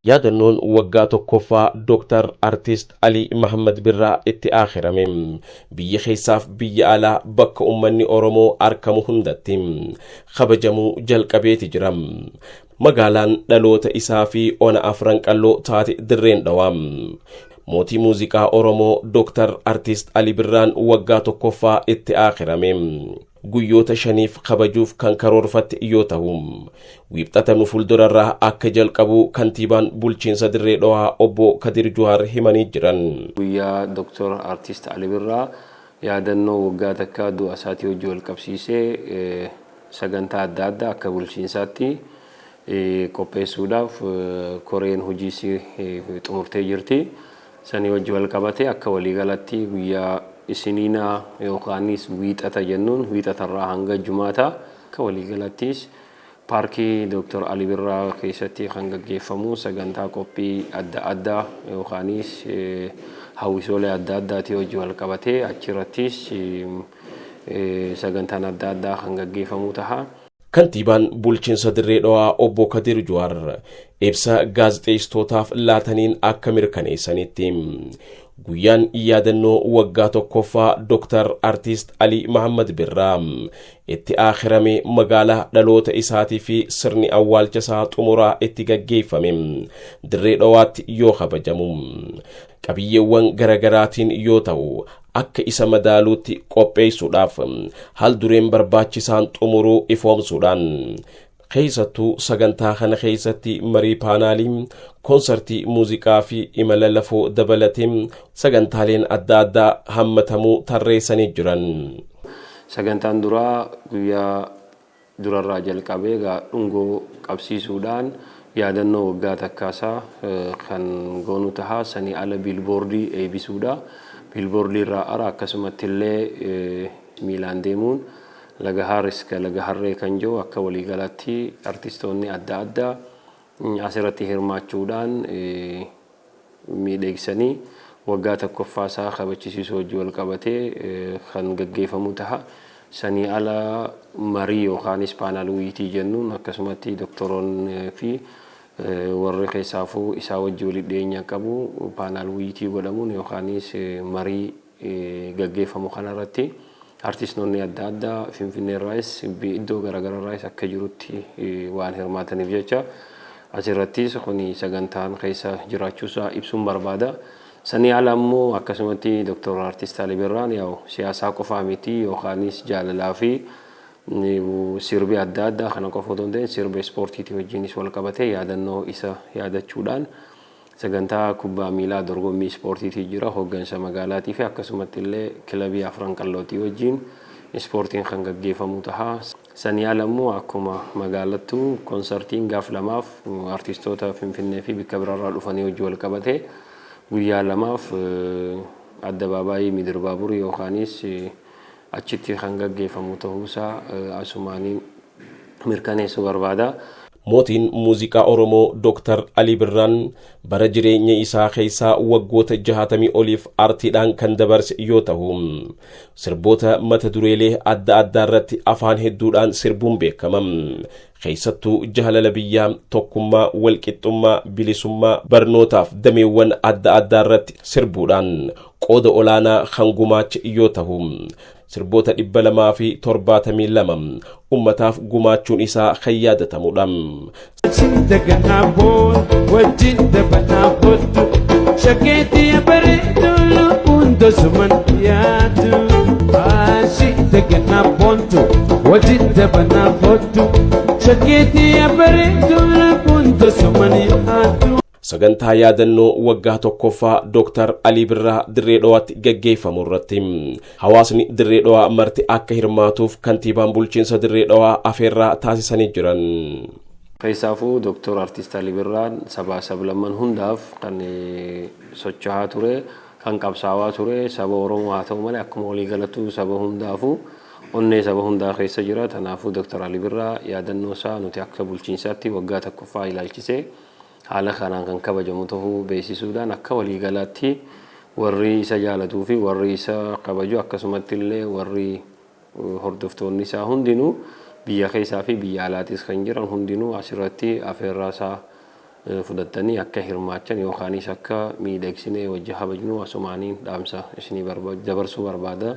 yaadannoon waggaa tokkoffaa Dooktar Artiist Alii Mahammad Birraa itti aakhirame biyya keessaaf biyya alaa bakka ummanni Oromoo arkamu hundatti kabajamuu jalqabeeti jira. Magaalaan dhaloota isaa fi ona afran qalloo taate dirreen dhawaa. Mootii muuziqaa Oromoo Dooktar Artiist Ali Birraan waggaa tokkoffaa itti aakirame. Guyyoota shaniif kabajuuf kan karoorfatte yoo tahu, wiixata nu fuuldurarraa akka jalqabu kantiibaan bulchiinsa dirree dhawaa obbo Kadir Juhaar himanii jiran. Guyyaa Dooktar Artiist Ali Birraa yaadannoo waggaa takkaa du'a isaatii wajji wal qabsiisee, Sagantaa adda addaa akka bulchiinsaatti qopheessuudhaaf koreen hojiis xumurtee jirti. Sanii wajji wal qabatee akka walii galatti guyyaa Isiniinaa yookaanis Wiixata jennuun Wiixatarraa hanga Jumaataa akka walii galattis Paarkii Dooktar Ali Birraa keessatti kan gaggeeffamu sagantaa qophii adda addaa yookaanis hawwisoolee adda addaatii wajji wal qabatee achirattis sagantaan adda addaa kan gaggeeffamuu taha. Kantiibaan bulchiinsa Dirree Dhawaa obbo Kadir Juwaar ibsa gaazexeessitootaaf laataniin akka mirkaneessanitti guyyaan yaadannoo waggaa tokkoffaa Dr. Artiist Alii Mahammad Birraa itti aakhirame magaalaa dhaloota isaatii fi sirni awwaalcha isaa xumuraa itti gaggeeffame Dirree Dhawaatti yoo kabajamu qabiyyeewwan garagaraatiin yoo ta'u akka isa madaaluutti qopheessuudhaaf haal dureen barbaachisaan xumuruu ifoomsuudhaan keessattuu sagantaa kana keessatti marii paanaalii koonsartii muuziqaa fi imala lafoo dabalatee sagantaaleen adda addaa hammatamuu tarreessanii jiran. Sagantaan duraa guyyaa durarraa jalqabee egaa dhungoo qabsiisuudhaan yaadannoo waggaa takkaasaa kan goonu taha. Sanii ala biilboordii eeybisuudha. Biilboordiirraa ara akkasumattillee miilaan deemuun Lagahaar iska Lagaharree kan jedhu akka waliigalaatti artistoonni adda addaa asirratti hirmaachuudhaan miidheegsanii waggaa takkoffaa isaa kabachisiisuu wajji wal qabatee kan gaggeefamuu taha. Sanii ala marii yookaanis paanal wuyitii jennuun akkasumatti doktoroon fi warri keessaafuu isaa wajji walitti dhiyeenya qabu paanal wuyitii godhamuun yookaanis marii gaggeeffamu kana irratti artistoonni adda addaa Finfinnee irraayis iddoo garaagaraa irraayis akka jirutti waan hirmaataniif jecha asirrattis kun sagantaan keessa jiraachuusaa ibsuun barbaada. Sanii ala immoo akkasumatti Dr. Artist Ali Birraan yaa'u siyaasaa qofaa miti yookaanis jaalalaa fi sirbi adda addaa kana qofa otoo hin ta'in sirba ispoortiitii wajjinis wal qabatee yaadannoo isa yaadachuudhaan Sagantaa kubbaa miilaa dorgommii ispoortiitii jira hoggansa magaalaatii fi akkasumatti illee kilabii Afran Qallootii wajjiin ispoortiin kan gaggeefamuu taha. Sanii ala immoo akkuma magaalattuu konsartiin gaaf lamaaf artistoota Finfinnee fi bikka bira irraa dhufanii wajji wal qabatee guyyaa lamaaf Addabaabaayii Midir Baaburii yookaaniis achitti kan gaggeeffamu tahuusaa asumaaniin mirkaneessuu barbaada. Mootiin muuziqaa Oromoo Dr. Alii Birraan bara jireenya isaa keessaa waggoota jahaatamii oliif artiidhaan kan dabarse yoo tahu, sirboota mata dureelee adda addaa irratti afaan hedduudhaan sirbuun beekama. keessattuu jaalala biyyaa tokkummaa walqixxummaa bilisummaa barnootaaf dameewwan adda addaa irratti sirbuudhaan qooda olaanaa kan gumaache yoo tahu sirboota dhibba lamaa fi torbaatamii lama ummataaf gumaachuun isaa kan yaadatamudha. Daganaa boon wajjin dabanaa kottu shakkeetii bareedu lubbuun dosuman dhiyaatu. Daganaa boon. Wajjin dabanaa foottu shakkeetii abareetu rakkoon tasuma ni haatu. Sagantaa yaadannoo waggaa tokkoffaa Dooktar Alii Birraa Dirree Dhawaatti gaggeeffamu irratti hawaasni Dirree Dhawaa marti akka hirmaatuuf kantiibaan bulchiinsa Dirree Dhawaa afeerraa taasisanii jiran. Keessaafuu Dooktar Artiist Alii Birraan sabaa sablamman hundaaf kan socho'aa ture kan qabsaawaa ture saba Oromoo haa ta'u malee akkuma walii galattuu saba hundaafu onnee saba hundaa keessa jira. Tanaafuu Dr. Ali Birraa yaadannoo isaa nuti akka bulchiinsaatti waggaa takkoffaa ilaalchisee haala kanaan kan kabajamu ta'uu beeksisuudhaan akka walii galaatti warri isa jaalatuu fi warri isa kabaju akkasumatti illee warri Hordoftoonni isaa hundinuu biyya keessaa fi biyya alaatis kan jiran hundinuu asirratti afeerraa isaa fudhattanii akka hirmaachan yookaanis akka miidhagsinee wajji kabajnu asumaaniin dhaamsa isinii dabarsuu barbaada.